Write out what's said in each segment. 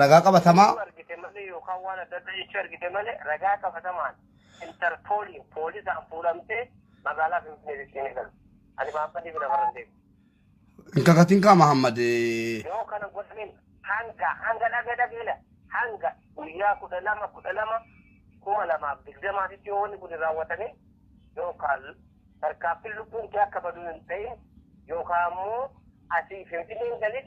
Ragaa qabatamaa. Yoo argite malee yookaan waan adda addaa jechuu argite malee ragaa qabatamaan interpooliin poolisaan fuudhamtee magaalaa Finfinnee Finfinnee galu. Ani maammanii bira faran deemu. Hin kakatin kaa Mahammad. eh, Yoo kana godhaniin hanga hanga dhagee dhageela hanga guyyaa kudha lama kudha lama kuma lamaaf digdamaatitti yoo wanni kun raawwatame yookaan tarkaanfiin lubbuun kee akka baduu hin ta'in yookaan ammoo asii Finfinneen galin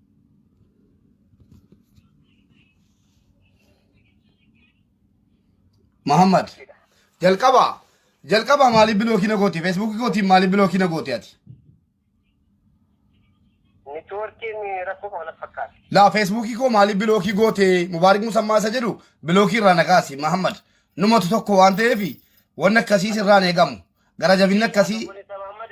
Muhammad. Jalqaba. Jalqaba maaliif bilookii na goote? Feesbuukii kootiin maaliif bilookii na goote ati? Neetwoorkiin rakkoo qaba na fakkaata. Laa feesbuukii koo maaliif bilookii goote? Mubaarik Musammaa isa jedhu bilookii irraa na kaasi. Muhammad. Numatu tokko waan ta'eef wanni akkasiis irraan eegamu. Gara jabinni akkasii. Obboleessa Mahammad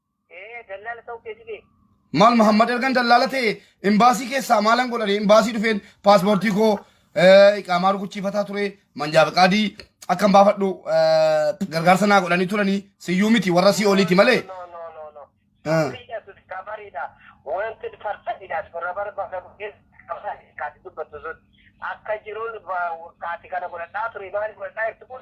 Ee dallaala ta'uu keeti bee. Maal Mahammad ergan dallaala ta'e imbaasii keessaa maalan godhani imbaasii dhufeen paaspoortii koo eh, iqaamaa rukuchiifataa ture manjaa fiqaadii akkan baafadhu eh, gargaarsa naa godhanii turani siyyuu miti warra sii oliiti malee. No, no, no, no. Ah. Sirriidha sun kabariidha. Wanti farsadidha sun rabara bakka bu'ees kabari kaati dubbatu sun. Akka jiruun ba- kaati kana godhadhaa ture maali godhadhaa jirtu kun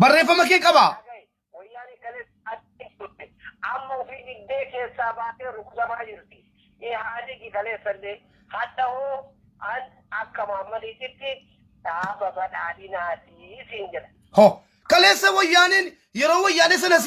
Barreeffama kee qabaa? Wayyaanee kalees adda turte. Amma ofii diddee keessaa baatee rukutamaa jirti. Ihaadigi kaleessallee hadha hoo an akka Maammadiititti dhaaba badhaadhinaati siin jedha. Ho. Kaleessa wayyaaneen yeroo wayyaanee sanas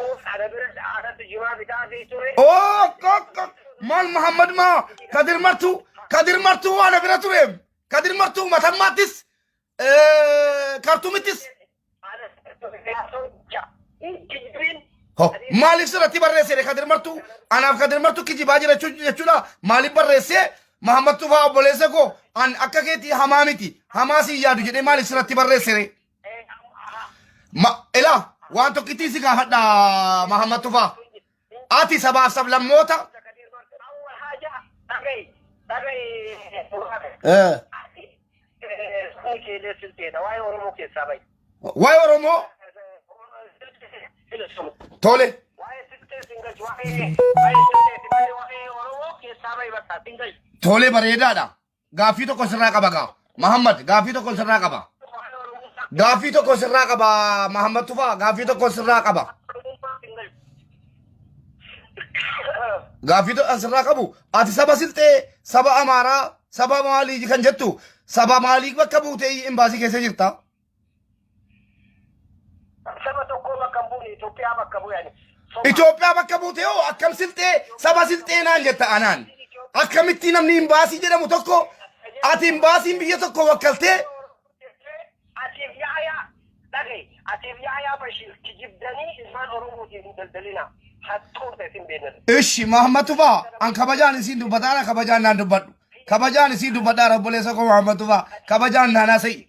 Of ana bira dhaadhatu jimaa bitaa fi ture. ok ok ok maal muhammad maa kadir martuu kadir martuu waan na bira tureem kadir martuu matammaattis eh, kartumittis Ana yaasuun ja. Kijibin. Ho, maaliif sirratti barreessee kadir martuu anaaf kadir martuu kijibaa jira jechuu- jechuudha maaliif barreessee muhammad tufaa obboleessa koo an akka keetii hamaa miti hamaa siin yaadu jedhee maaliif sirratti barreessee Ma, ilaa waan tokkittii si gaafadha Mahammad Tufaa. Ati sabaaf sablammoota. Eh, Waa'ee Oromoo tole. Tole bareedaadha. Gaaffii tokko sirraa qaba gaa. Mahammad gaaffii tokko sirraa qaba. Gaaffii tokko sirraa qaba Mahammad Tufaa gaaffii tokko sirraa qaba. Gaaffii tokko sirraa qabu ati saba silxee saba amaaraa saba maalii kan jettu saba maalii bakka buutee imbaasii keessa jirta. Saba tokkoo bakka hin buune Itoophiyaa bakka bu'e ani. Soba. Itoophiyaa bakka buute hoo akkam silxee saba silxee naan jetta anaan. Akkamitti namni imbaasii jedhamu tokko ati imbaasiin biyya tokko wakkaltee Atiif yaayaa dhaga'i. Atiif yaayaa Bashiir kijibdanii ilmaan Oromootiin hin daldalina. Hattoota isin beekna. Ishi Mahammad Tufaa an kabajaan isiin dubbataa ana kabajaan naan dubbadhu. Kabajaan isiin dubbadhaa obboleessa koo Mahammad Tufaa kabajaan naan haasa'ii.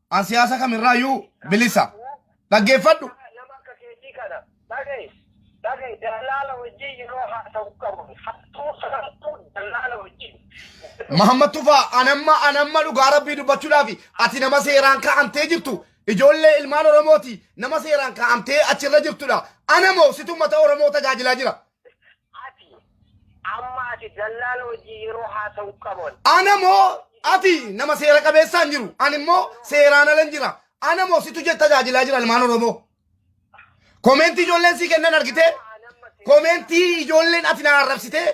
An siyaasa kamirraayyuu bilisa. Dhaggeeffadhu. Nama akka keetii kana dhagahi. Dhagahi dallaala wajjin yeroo haasa'u qabu. Hattuu saamtuu dallaala wajjin. Mahammad Tufaa anamma anamma dhugaa rabbii dubbachuudhaaf ati nama seeraan kaa'amtee jirtu ijoollee ilmaan Oromooti nama seeraan kaa'amtee achirra jirtudha. Ana moo situ uummata Oromoo tajaajilaa jira. Ati amma ati dallaala wajjin yeroo haasa'u qaban. Ana moo ati nama seera qabeessaa hin jiru. Ani immoo seeraan ala hin jira. Ana moo situ jetta tajaajilaa jira ilmaan Oromoo. Komeentii ijoolleen sii kennan argitee? Komeentii ijoolleen ati na arrabsitee?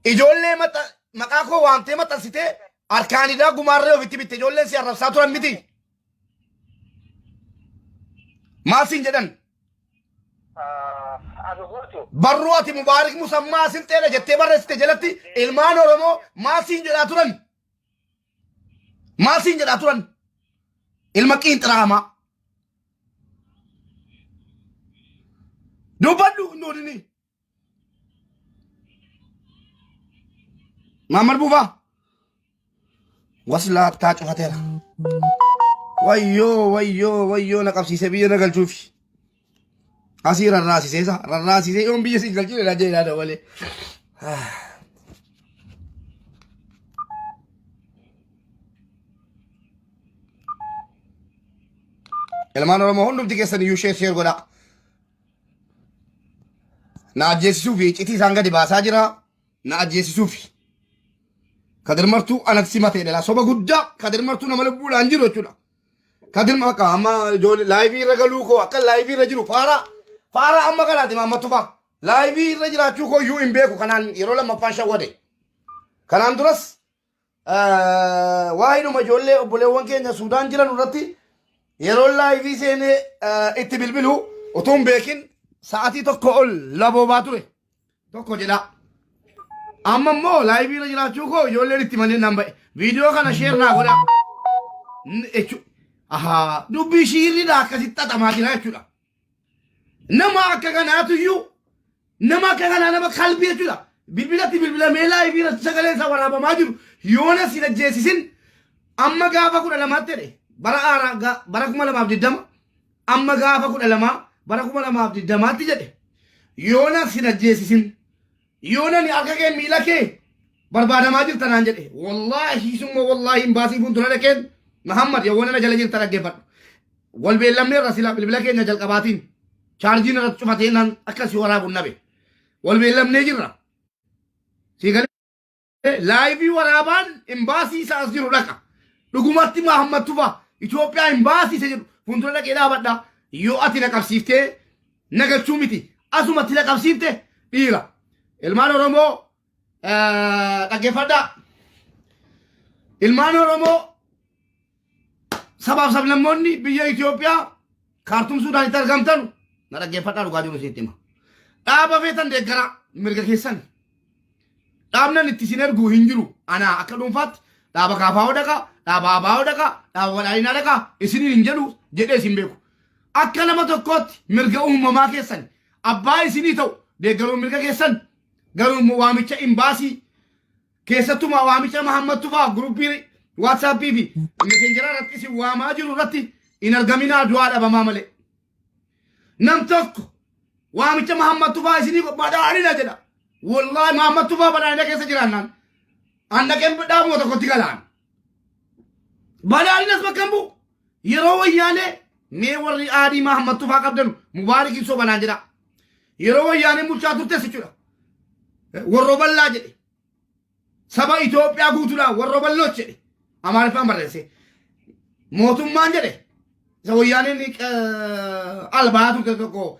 Ijoollee maxa- maqaa koo waamtee maxxansitee harkaan idaa gumaarree ofitti bitte ijoolleen si arrabsaa turan miti. Maal siin jedhan? Anu guutu. Barruu ati Mubaarik Musammaa Silxeedha jettee barreessite jalatti ilmaan Oromoo maal siin jedhaa turan? Maal siin jedhaa turan? Ilma qiinxiraamaa. Dubbadhu nuudini. Maammar buufaa. Waslaattaa cufateera. Wayyoo wayyoo wayyoo na qabsiise biyya na galchuufi. Asii rarraasisee sa rarraasisee yoon biyya siin galchuu dha jedhaa dabalee. Ilmaan Oromoo hundumti keessan iyyuu sheer sheer godhaa. Na ajjeesisuufi iccitii isaan gadi baasaa jira. Na ajjeesisuufi. Kadir Martuu anatti simatee dhala. Soba guddaa Kadir Martuu nama lubbuudhaan jiru jechuudha. Kadir bakka amma ijoollee laayivii irra galuu koo akka laayivii irra jiru faaraa faaraa amma kanaati maammatu faa. Laayivii irra jiraachuu koo iyyuu hin beeku kanaan yeroo lammaffaan shawwade. Kanaan duras Waa'eedhuma ijoollee obboleewwan keenya Suudaan jiran irratti yeroo laayivii seenee itti bilbilu utuu hin beekin sa'atii tokko ol laboobaa ture tokko jedha. Amma immoo laayivii irra jiraachuu koo ijoolleen itti malee nan ba'e. Viidiyoo kana sheer naa godha. N- jechu- Ahaa dubbii shiirriidha akkasitti xaxamaa jira jechuudha. Nama akka kanaatu iyyuu nama akka kanaa nama kalbii jechuudha. Bilbilatti bilbila meelaa fi irratti sagalee isaa waraabamaa jiru yoona si ajjeesisin amma gaafa kudha lamaatti jedhe bara haaraa ga- bara kuma lamaaf digdama amma gaafa kudha lamaa bara kuma lamaaf digdamaatti jedhe yoona si ajjeesisin Yoo nani akka keen miila kee barbaadamaa jirta naan jedhe. Wallaahi summa wallaahi hin baasii fuuldura dhaqeen Mahammad yoo nana jala jirta dhaggeeffadhu. Wal beellamne irra sila bilbila keenya jalqabaatiin chaarjiin irratti cufatee naan akka si waraabu nabe. Wal beellamnee jirra. Sii galee Laayivii waraabaan imbaasii isa as jiru dhaqa. Dhugumatti Mahammad Tufa Itoophiyaa imbaasii isa jedhu fuuldura dhaqee dhaabadha. Yoo ati na qabsiiftee na galchuu miti. Asumatti na qabsiifte dhiira. Ilmaan Oromoo eh, dhaggeeffadhaa. Ilmaan Oromoo sabaaf sablammoonni biyya Itoophiyaa kaartuum Suudaanitti argamtan na dhaggeeffadhaa dhugaa jiru isinitti hima. Dhaaba feetan deeggaraa mirga keessan. Dhaabnan itti isin ergu hin jiru. Anaa akka dhuunfaatti dhaaba kaafaa hodhaqa, dhaaba abaa hodhaqa, dhaaba badhaadhinaa dhaqa isiniin hin jedhu jedhee isin beeku. Akka nama tokkootti mirga uumamaa keessan abbaa isinii ta'u deeggaruun mirga keessan garuu immoo waamicha imbaasii keessattumaa waamicha Mahammad Tufaa guruppii WhatsApp fi messengeraa irratti isin waamaa jiru irratti hin argaminaa du'aa dhabamaa malee. Nam tokko waamicha Mahammad Tufaa isinii badhaadhina jedha. Wallaahi Mahammad Tufaa badhaadhina keessa jiraannaan. Annaqeen dhaabuma tokkotti galaan. Balaaliin as bakka hin bu'u. Yeroo wayyaanee mee warri aadii Mahammad Tufaa qabdanu Mubaarik ibsoo banaan jedha. Yeroo wayyaaneen bulchaa turtes jechuudha. Warro ballaa jedhe. Saba Itoophiyaa guutuudhaan warro balloos jedhe. Amaariffaan barreesse. Mootummaan jedhe. Isa wayyaaneen eh, albaa turte tokko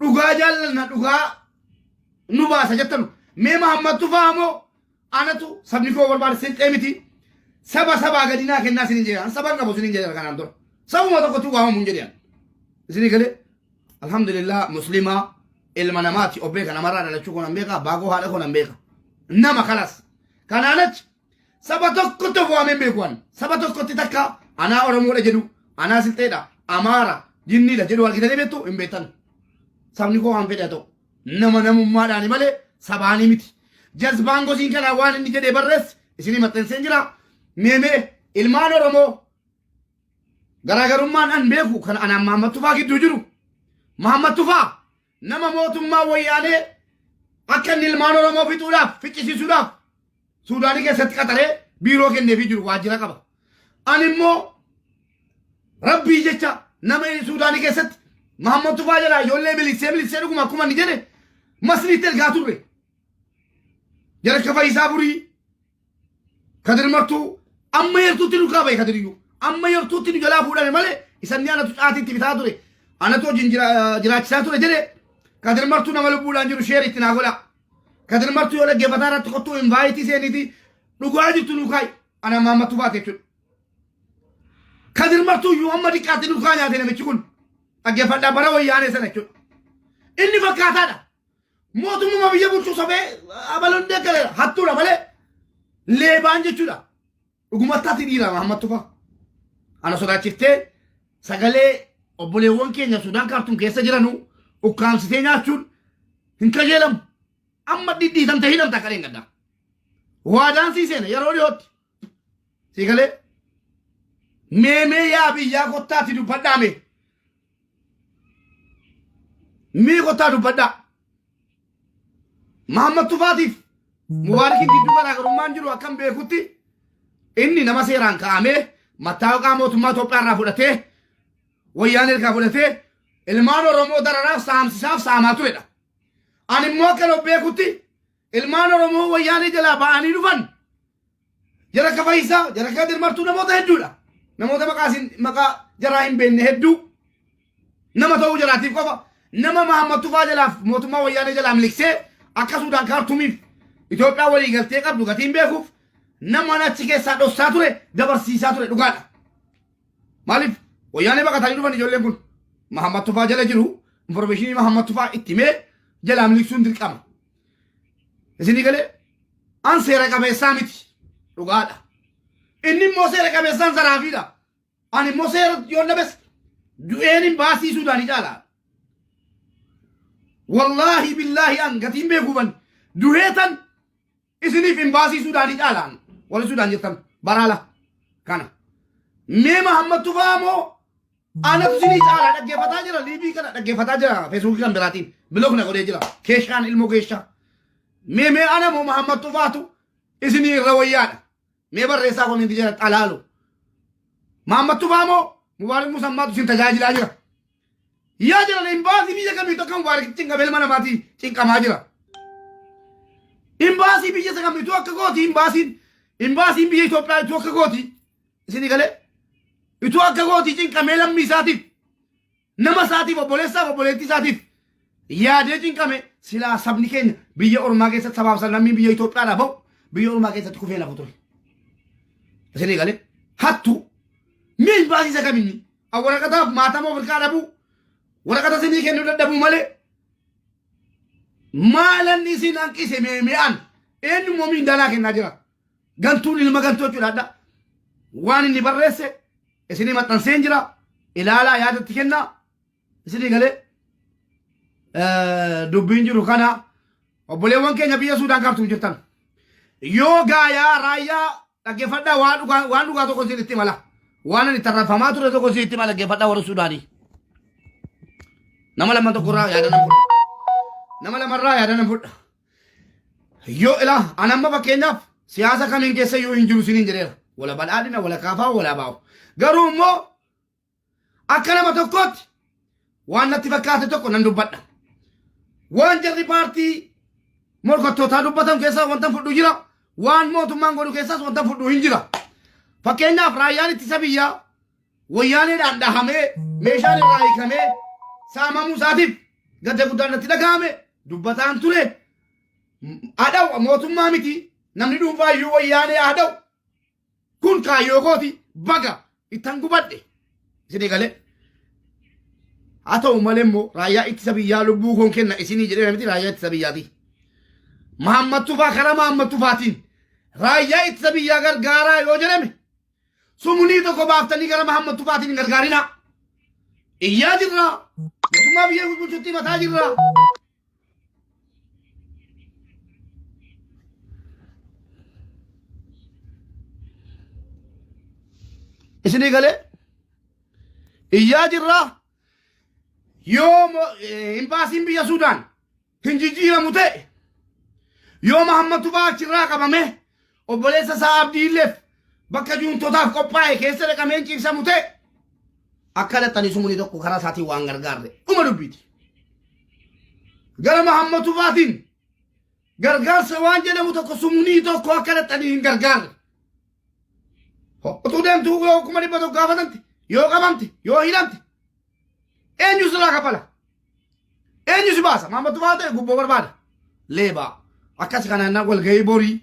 dhugaa jaallanna dhugaa nu baasa jettan mee Mahammad Tufaa moo anatu sabni koo barbaada silxee miti saba sabaa gadinaa kennaa sinin jedhan saban qabu sinin jedhan kanaan dura sabuma tokkotti waamamu hin jedhan isinii galee alhamdulillah muslimaa ilma namaati obbee kana maraa dhalachuu koo nan beeka baagoo haadha koo nan beeka nama kalas kanaan achi Saba tokkotti of waameen beeku ani. Saba tokkotti takka anaa Oromoodha jedhu, anaa Silxeedha, Amaara, Jinniidha jedhu argitanii beektu hin beektan. Sabni koo waan fedhe haa ta'u. Nama namummaadhaani malee sabaanii miti. Jazbaan gosiin kanaa waan inni jedhee barreesse isinii maxxanseen jira. Meemee ilmaan Oromoo garaagarummaan an beeku kan anaan Mahammad Tufaa gidduu jiru. Mahammad Tufaa Nama mootummaa wayyaanee akka inni ilmaan Oromoo fixuudhaaf, ficcisiisuudhaaf Suudaanii keessatti qaxaree biiroo kenneefii jiru waajjira qaba. Ani immoo rabbii jecha nama Suudaanii keessatti Mahammad Tufaa jedhaa ijoollee miliksee miliksee dhuguma akkuma inni jedhe masniitti ergaa turre. Jarka Fayisaa Furii Kadir martuu amma yartuutti nu kaaba'e kadiriyyuu amma yartuutti nu jalaa fuudhame malee isanni anatu caatiitti bitaa ture anatu hojiin jira- jiraachisaa ture jedhe kadir martuu nama lubbuudhaan jiru sheer itti naa godha kadir martuu yoo dhaggeeffataa irratti kottuu invaayitii seeniiti dhugaa jirtu nu kaa'i ana maammattuu baate jechuudha kadir martuu iyyuu amma diqqaatti nu kaa nyaate namichi kun dhaggeeffadhaa bara wayyaanee sana jechuudha inni fakkaataadha Mootummaa biyya bulchuu sobee abaloon deeggareera hattuudha malee leebaan jechuudha. Dhugumattaatti dhiirama hammatu fa'a. Ana sodaachiftee sagalee obboleewwan keenya Sudaan kaartuun keessa jiranu ukkaamsitee nyaachuun hin qajeelamu. Amma dhidhiitamte hidhamta akka dheengaddaa. Waadaan sii seena yeroo dhiyootti. Sigalee meemee yaa biyyaa kottaatti dubbadhaa mee. Mee kottaa dubbadhaa. Mahammad Tufaatiif Mubaarakiin gidduu garaagarummaan jiru akkan beekutti inni nama seeraan kaa'amee mattaawaqaa mootummaa Itoophiyaa irraa fudhatee wayyaan ergaa fudhatee ilmaan Oromoo dararaaf saamsisaaf saamaa turedha. Ani immoo akkan of beekutti Ilmaan Oromoo wayyaanee jalaa ba'anii dhufan jarakka fayyisaa jarakka dirmartuu namoota hedduudha. Namoota maqaa isin maqaa jaraa hin beekne hedduu nama ta'uu jalaatiif qofa nama Mahammad Tufaa jalaaf mootummaa wayyaanee jalaa miliksee akka Suudaan kaartumiif Itoophiyaa walii galtee qabdu gatiin beekuuf nama achi keessaa dhossaa ture dabarsiisaa ture dhugaadha. Maaliif wayyaanee baqatanii dhufan ijoolleen kun Mahammad Tufaa jala jiru informeeshinii Mahammad Tufaa itti mee jalaa miliksuun dirqama. Isinii galee an seera qabeessaa miti dhugaadha. Inni immoo seera qabeessaan zaraafiidha. Ani immoo seera yoo labes du'een hin baasii Suudaanii caalaa. Wallaahi billaahi an gatiin beekuu ban duheetan isiniif hin baasii Suudaanii caalaan warri Suudaan jettan baraala kana. Mee Mahammad Tufaa moo Anatu sinii caalaa dhaggeeffataa jira liivii kana dhaggeeffataa jira feesbuukii kan biraatiin bilook na godhee jira keeshaan ilmoo keeshaa mee mee ana moo mahammad tufaatu isinii irra wayyaadha mee barreessaa kominti jira xalaalu mahammad tufaa moo mubaarik musammaatu isin tajaajilaa jira yaa jiran imbaasii biyya kamiitu akka mubaarik cinqamee ilma namaatii cinqamaa jira imbaasii biyya isa kamiitu akka gooti imbaasiin imbaasiin biyya Itoophiyaa itti akka gooti Isinii galee ituu akka gootii cinqamee lammii isaatiif nama isaatiif obboleessaaf obboleettii isaatiif yaadee cinqame silaa sabni keenya biyya ormaa keessatti sabaaf sablammiin biyya Itoophiyaadhaa ba'u biyya ormaa keessatti kufee nafu ture. Isinii galee hattuu miin baasiisa kaminni waraqataaf maatama of hirkaa dhabuu waraqata isinii kennuu dadhabuu malee maalan isin hanqise meeme'an eenyummoo miindaalaa kennaa jira. Gantuun ilma gantuu jechuudha adda. Waan inni barreesse isinii maxxanseen jira. Ilaalaa yaada itti kennaa. Isinii galee eh, dubbiin jiru kana obboleewwan keenya biyya Suudaan kaartuum jirtan. Yoo gaayaa raayyaa dhaggeeffadhaa waan dhugaa waan dhugaa tokko isin itti mala. Waan ani tarrafamaa ture tokko isin itti mala dhaggeeffadhaa warra Suudaanii. Nama lama tokkorraa yaada nan fudha. Nama lamarraa yaada nan fudha. Yoo ilaa an amma fakkeenyaaf siyaasa kamiin keessa yoo hin jiru siniin jedheera. Wala badhaadhina, wala kaafaa, wala baa'u. Garuu immoo akka nama tokkootti waan natti fakkaate tokko nan dubbadha. Waan jarri paartii morkattootaa dubbatan keessaa wanta fudhu jira. Waan mootummaan godhu keessaas wanta fudhu hin jira. Fakkeenyaaf raayyaan ittisa biyyaa Wayyaaneedhaan dhahamee meeshaan irraa hiikamee saamamuu isaatiif gadda guddaan natti dhaga'ame dubbataan ture. Adhaw mootummaa miti namni dhuunfaa iyyuu wayyaanee adhaw kun kaayyoo kooti baga ittan gubadhe isinii galee. Haa ta'u malee immoo raayyaa ittisa biyyaa lubbuu koon kenna isinii jedhee miti raayyaa ittisa biyyaati. Maammattufaa karaa maammattufaatiin raayyaa ittisa biyyaa gargaaraa yoo jedhame Sumunii tokko baaftanii gara Mahammad Tufaatiin hin gargaarinaa. Iyyaa jirra. Mootummaa biyya bulchutti mataa jirra. Isinii galee iyyaa jirra. Yoo mo- eh, imbaasiin biyya Suudaan hin jijjiiramu ta'e yoo Mahammad Tufaa achirraa qabamee obboleessa isaa Abdiilleef bakka juuntotaaf qophaa'e keessa dhaqamee hin ciibsamu ta'e akka dhaqanii sumuni tokko karaa isaatiin waan gargaarre dhuma dubbiiti. Gara Mahammad Tufaatiin gargaarsa waan jedhamu tokko sumunii tokko akka dhaqanii hin gargaarre. Utuu deemtuu yoo kuma dhibba tokko gaafatamte yoo qabamte yoo hidhamte eenyu sirraa kafala Eenyu si baasa? Maammattu fa'aa ta'e gubboo barbaada. Leebaa. Akkas kanaan walgahii borii.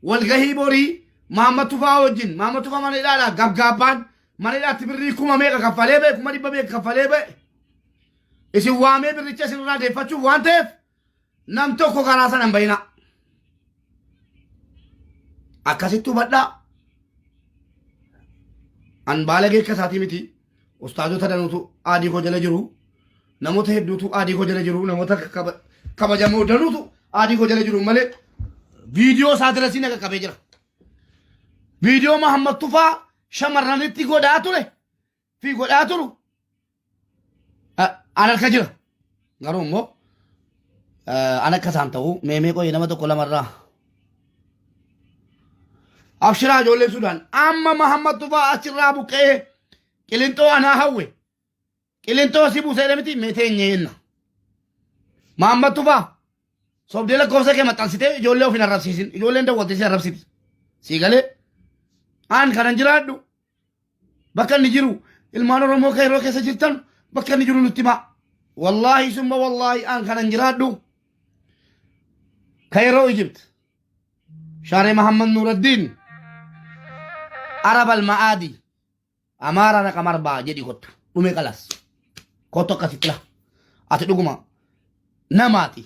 Walgahii borii maammattu fa'aa wajjin. Maammattu fa'aa mana hidhaadhaa gabgaabbaan. Mana hidhaatti birrii kuma meeqa kaffalee ba'e kuma dhibba meeqa kaffalee ba'e. Isin waamee birricha isinirraa deeffachuuf waan ta'eef nam tokko karaa sana hin bayinaa. Akkasitti hubadhaa. An baalagee akka isaatii miti. Ustaazota danuutu aadii koo jala jiru. Namoota hedduutu aadii koo jala jiru. Namoota kaba- kabajamoo danuutu aadii koo jala jiru malee viidiyoo isaa dirasii na qaqqabee jira. Viidiyoo Mahammad Tufaa shamarranitti godhaa ture. fi godhaa turu a- an harka jira garuu immoo eh, an akka isaan ta'u meemee qoyee nama tokko lamarraa abshiraa ijoollee sudaan amma mahammad tufaa achirraa buqqa'ee qilinxoo anaa hawwe qilinxoo si buuseedha miti meetee hin nyeenna mahammad tufaa sobdee lakkoofsa kee maxxansitee ijoollee of hin arrabsiisin ijoolleen dawwattee si arrabsiti sii galee aan kanan jiraadhu bakka inni jiru ilmaan oromoo kan yeroo keessa jirtan bakka inni jiru nutti himaa wallaahi summa wallaahi aan kanan jiraadhu ka yeroo ijipt shaaree mahammad nuuraddiin arabal ma'aadii amaaraa na qamarbaa jedhi kottu dhume qalas kottu akkasi xila ati dhuguma namaati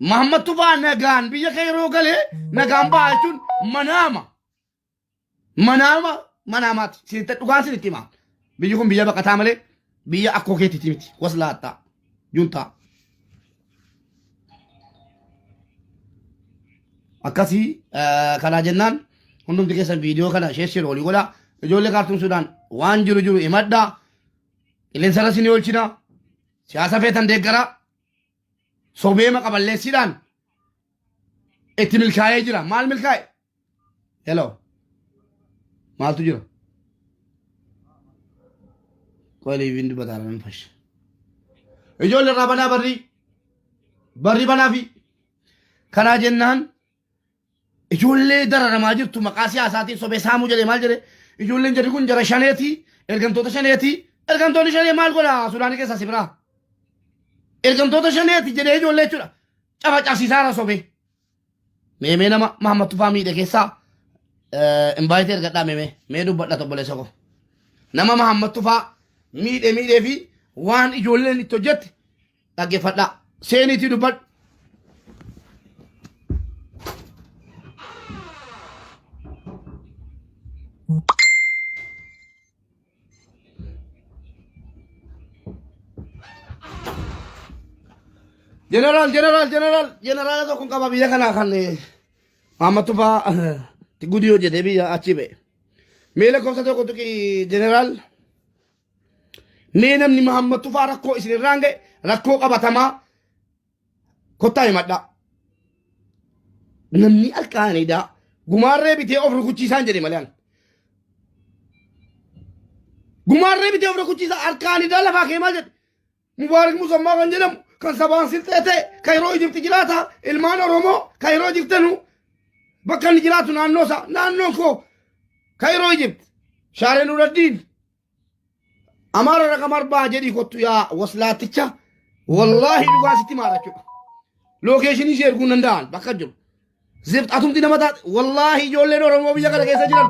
mahammad tufaa nagaan biyya kee yeroo galee nagaan ba'a jechuun manaama Manaama manaamaati. Sinitti dhugaan sinitti himaa. Biyyi kun biyya baqataa malee biyya akkoo keetiiti miti. Waslaattaa. Juntaa. Akkasii eh, kanaa jennaan hundumti keessan viidiyoo kana sheessiru olii godhaa. Ijoollee kaartuun Sudaan waan jiru jiru himadhaa. Qilleensa irra isin oolchina. Siyaasa feetan deeggaraa. Sobeema qaballeessiidhaan itti milkaa'ee jira. Maal milkaa'e? Hello. Maaltu jira? Qoy liiviin dubbataa nan fasha. Ijoollee irraa banaa barrii. Barrii banaa fi kanaa jennaan ijoollee dararamaa jirtu maqaa siyaasaatiin sobee saamuu jedhee maal jedhee ijoolleen jarri kun jara shaneetii ergamtoota shaneetii ergamtoonni shanee maal godha Sudaanii keessaa si biraa. Ergamtoota shaneetii jedhee ijoollee jechuudha. Cafa cabsiisaara sobee. Meemee nama Mahammad Tufaa miidhe keessaa invaayitii ergadhaa meemee mee dubbadha obboleessa koo. Nama Mahammad Tufaa miidhe miidhee fi waan ijoolleen itti hojjette dhaggeeffadhaa. Seeniitii dubbadhu. Jeneraal, jeneraal, jeneraal, jeneraala tokko qaba biyya kanaa kan Maamma Tufaa Gudiyoo jedhee biyya achi ba'e. Mee lakkoofsa tokko tuqi jeneraal. Mee namni Maamma Tufaa rakkoo isinirraan ga'e rakkoo qabatamaa Kottaa himadhaa. Namni halkaan edaa gumaarree bitee of rukuchiisaan jedhe malee. Gumaarree bitee of rukuchiisaa halkaan edaa lafaa kee maal jedhe. Mubaarak Musammaa kan jedhamu kan sabaan sirxee ta'e kan yeroo Ijibti jiraata ilmaan Oromoo kan yeroo Ijibtanu bakka inni jiraatu naannoo isaa naannoon koo kan yeroo Ijibti shaaree nuraddiin Amaara raqam arbaa jedhii kottu yaa waslaaticha wallaahi dhugaa sitti maara jechuudha. Lookeeshinii si erguu hin danda'an bakka jiru. Zift atumti nama taate wallaahi ijoolleen Oromoo biyya kana keessa jiran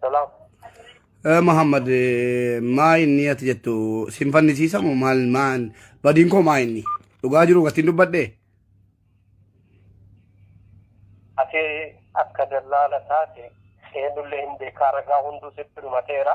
Salaam. Eh, Muhammad eh, maa inni ati jettu sin fannisiisamu maal maan badiin koo maa inni dhugaa jiru gatiin dubbadhe Ati akka dallaala taate seenullee hin beekaa ragaa hunduu sitti dhumateera.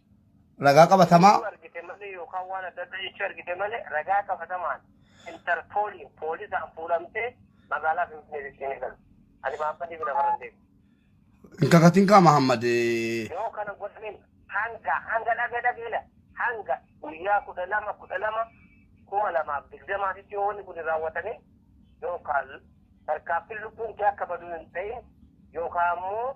Ragaa qabatamaa. Yoo argite malee yookaan waan adda addaa jechuu argite malee ragaa qabatamaan interpooliin poolisaan fuudhamtee magaalaa Finfinnee Finfinnee galu. Ani maammanii bira bara deemu. Hin kakatin kaa Mahammad. Yoo kana godhamin hanga hanga dhagee dhageela hanga guyyaa kudha lama kudha lama kuma lamaaf digdamaatitti yoo wanni kun hin raawwatame yookaan tarkaanfiin lubbuun kee akka badu hin ta'in yookaan ammoo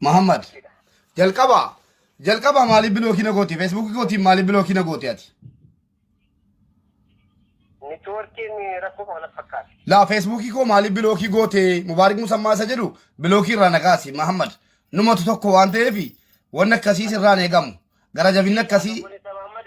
Muhammad jalqaba jalqaba maaliif bilookii na goote feesbuukii kootiin maaliif bilookii na goote ati Networkiin rakkoo kan wal fakkaata. laa feesbuukii koo maaliif bilookii goote mubaarik musammaa isa jedhu bilookii irraa na kaasi Muhammad numatu tokko waan ta'eef wanni akkasiis irraan eegamu gara jabinni akkasii Obboleessa Mahammad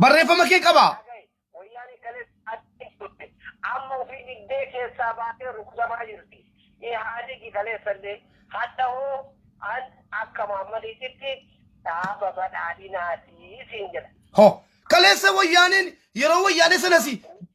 Barreeffama kee qabaa? Wayyaanee kalees adda turte. Amma ofii diddee keessaa baatee rukutamaa jirti. Ihaadigi kaleessallee hadha hoo an akka Maammadiititti dhaaba badhaadhinaatii siin jedha. Ho. Kaleessa wayyaaneen yeroo wayyaanee sanas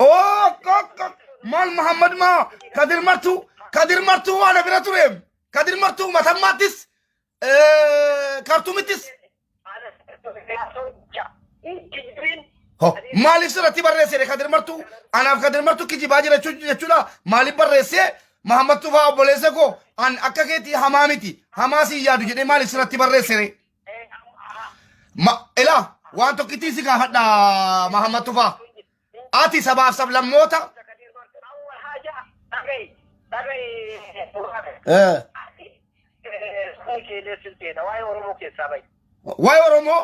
ok ok ok maal mahammad maa kadir martuu kadir martuu waan na bira tureef kadir martuu matammaattis eh, kartumittis Ho, maaliif sirratti barreessee kadir martuu anaaf kadir martuu kijibaa jira jechuu- jechuudha maaliif barreessee mahammad tufaa obboleessa koo an akka keetii hamaa miti hamaa siin yaadu jedhee maaliif sirratti barreessee Ma, ilaa waan tokkittii si gaafadha Mahammad Tufaa. Ati sabaaf sablammoota eh, waa'ee Oromoo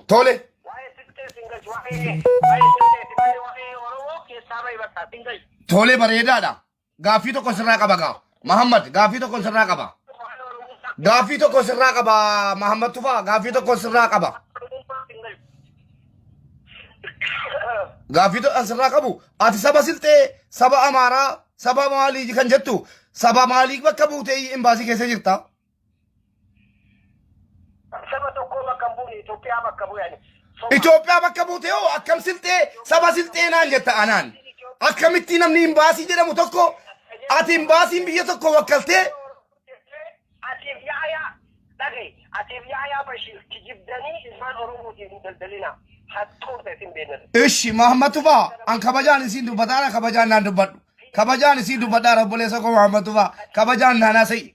tole tole bareedaadha. Gaaffii tokko sirraa qaba gaa. Mahammad gaaffii tokko sirraa qaba. Gaaffii tokko sirraa qaba Mahammad Tufaa gaaffii tokko sirraa qaba. Gaaffii tokko sirraa qabu ati saba silxee saba amaaraa saba maalii kan jettu saba maalii bakka buutee imbaasii keessa jirta. Saba tokkoo bakka hin buune Itoophiyaa bakka bu'e ani. Soba. Itoophiyaa bakka buute hoo akkam silxee saba silxee naan jetta anaan. Akkamitti namni imbaasii jedhamu tokko ati imbaasiin biyya tokko wakkaltee Atiif yaayaa dhaga'i. Atiif yaayaa Bashiir kijibdanii ilmaan Oromootiin hin daldalinaa. Hattoota isin beekna. Ishi Mahammad Tufaa an kabajaan isiin dubbataa na kabajaan naan dubbadhu. Kabajaan isiin dubbadhaa obboleessa koo Mahammad Tufaa kabajaan naan haasa'ii.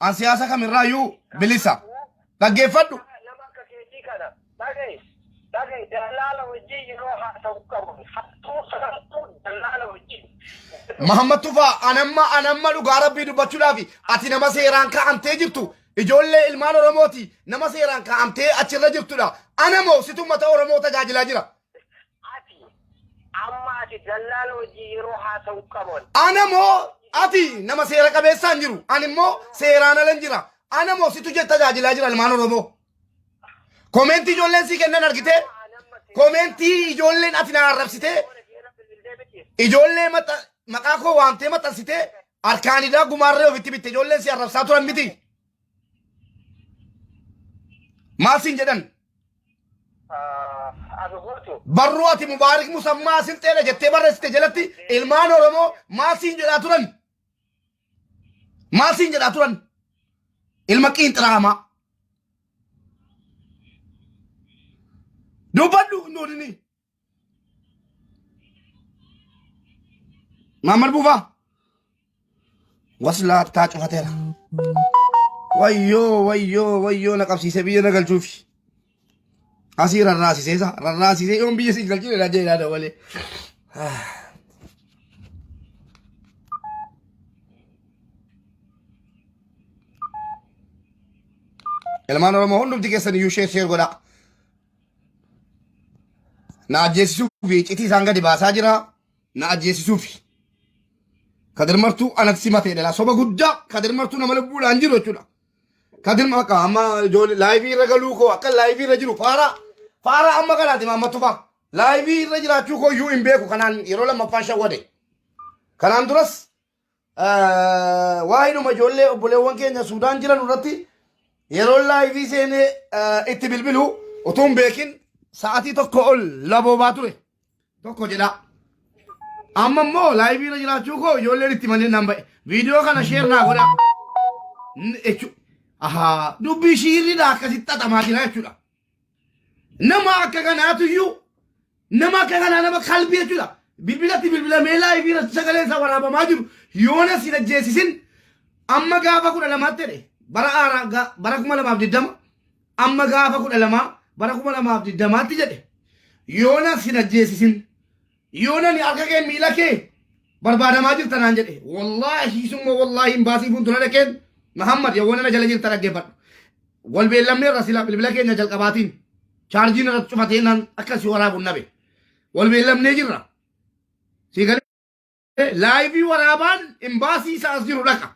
An siyaasa kamirraayyuu bilisa. Dhaggeeffadhu. Nama akka keetii kana dhaga'i. Dhaga'i dallaala wajjin yeroo haasa'u qabu. Hattuu sarattuu dallaala wajjin. Mahammad Tufaa anamma anamma dhugaa rabbii dubbachuudhaaf ati nama seeraan kaa'amtee jirtu ijoollee ilmaan Oromooti nama seeraan kaa'amtee achirra jirtudha. Anamoo situ uummata Oromoo tajaajilaa jira. Ati, Amma ati dallaal wajjin yeroo haasa'u qabon. Ana moo ati nama seera qabeessaan jiru? Ani immoo seeraan alan jira. Ana moo situ jetta tajaajilaa jira ilmaan Oromoo. Komeentii ijoolleen sii kennan argitee? Komeentii ijoolleen ati na arrabsitee ijoollee maxa- maqaa koo waamtee maxxansitee harkaan idaa gumaarree ofitti bitte ijoolleen si arrabsaa turan miti. Maal siin jedhan? Abi Guutu. Barruu ati Mubaarik Musammaa Silxeedha jettee barreessite jalatti ilmaan Oromoo maal siin jedhaa turan? Maal siin jedhaa turan? Ilma qiinxiraamaa. Dubbadhu nuudini. Maammal buufaa. Waslaattaa cufateera. Wayyoo wayyoo wayyoo na qabsiise biyya na galchuufi. Asii rarraasisee sa rarraasisee yoon biyya siin galchine na jeeraa dabalee. Ilmaan Oromoo hundumti keessan iyyuu sheer sheer godhaa. Na ajjeesisuuf iccitii isaan gadi baasaa jira. Na ajjeesisuuf. Kadir Martuu anatti simatee dhala. Soba guddaa Kadir Martuu nama lubbuudhaan jiru jechuudha. Kadir Martuu amma ijoollee laayivii irra galuu koo akka laayivii irra jiru faaraa faaraa amma kanaati maamma tufaa. Laayivii irra jiraachuu koo iyyuu hin beeku kanaan yeroo lammaffaan shawwade. Kanaan duras Waa'idhuma ijoollee obboleewwan keenya Suudaan jiran irratti yeroo laayivii seenee itti bilbilu utuu hin beekin sa'atii tokko ol laboobaa ture tokko jedha. Amma immoo laayivii irra jiraachuu koo ijoolleen itti malee nan ba'e. Viidiyoo kana sheer naa godha. N- jechu- Ahaa dubbii shiirriidha akkasitti xaxamaa jira jechuudha. Nama akka kanaatu iyyuu nama akka kanaa nama kalbii jechuudha. Bilbilatti bilbilamee laayivii irratti sagalee isaa waraabamaa jiru yoona sin ajjeesisin amma gaafa kudha lamaatti jedhe bara haaraa ga- bara kuma lamaaf digdama amma gaafa kudha lamaa bara kuma lamaaf digdamaatti jedhe yoona sin ajjeesisin Yoonani harka kee miila kee barbaadamaa jirta naan jedhe. Wallaahi summa wallaahi imbaasii fuuldura dhaqeen Mahammad yawwana na jala jirta dhaggeeffadhu. Wal beellamne irra sila bilbila keenya jalqabaatiin chaarjiin irratti cufatee naan akka si waraabuun nabe. Wal beellamnee jirra. Sii galee laayivii waraabaan imbaasii isaa as jiru dhaqa.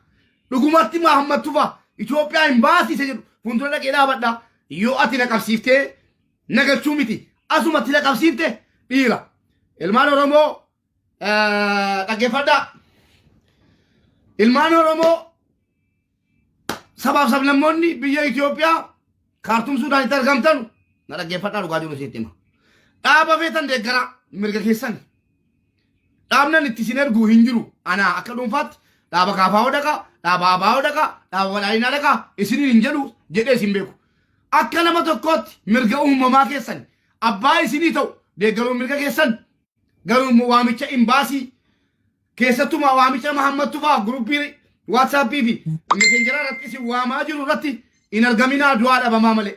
Dhugumatti Mahammad Tufa Itoophiyaa imbaasii isa jedhu fuuldura dhaqee dhaabadha. Yoo ati na qabsiiftee nagalchuu miti asuma tila qabsiifte dhiira ilmaan oromoo eh, dhaggeeffadhaa ilmaan oromoo sabaaf sablammoonni biyya Itoophiyaa kaartuum suudaanitti argamtan na dhaggeeffadhaa dhugaa jiru sitti hima dhaaba feetan deeggaraa mirga keessan Dhaabnan itti isin ergu hin jiru. Anaa akka dhuunfaatti dhaaba kaafaa'oo dhaqaa, dhaaba aabaa'oo dhaqaa, dhaaba badhaadhinaa dhaqaa isiniin hin jedhu jedhee isin beeku. Akka nama tokkootti mirga uumamaa keessan abbaa isinii ta'u deeggaruun mirga keessan garuu immoo waamicha imbaasii keessattumaa waamicha Mahammattu fa'aa guruppii waatsaappii fi meseenjaraa irratti isin waamaa jiru irratti hin argaminaa du'aa dhabamaa malee.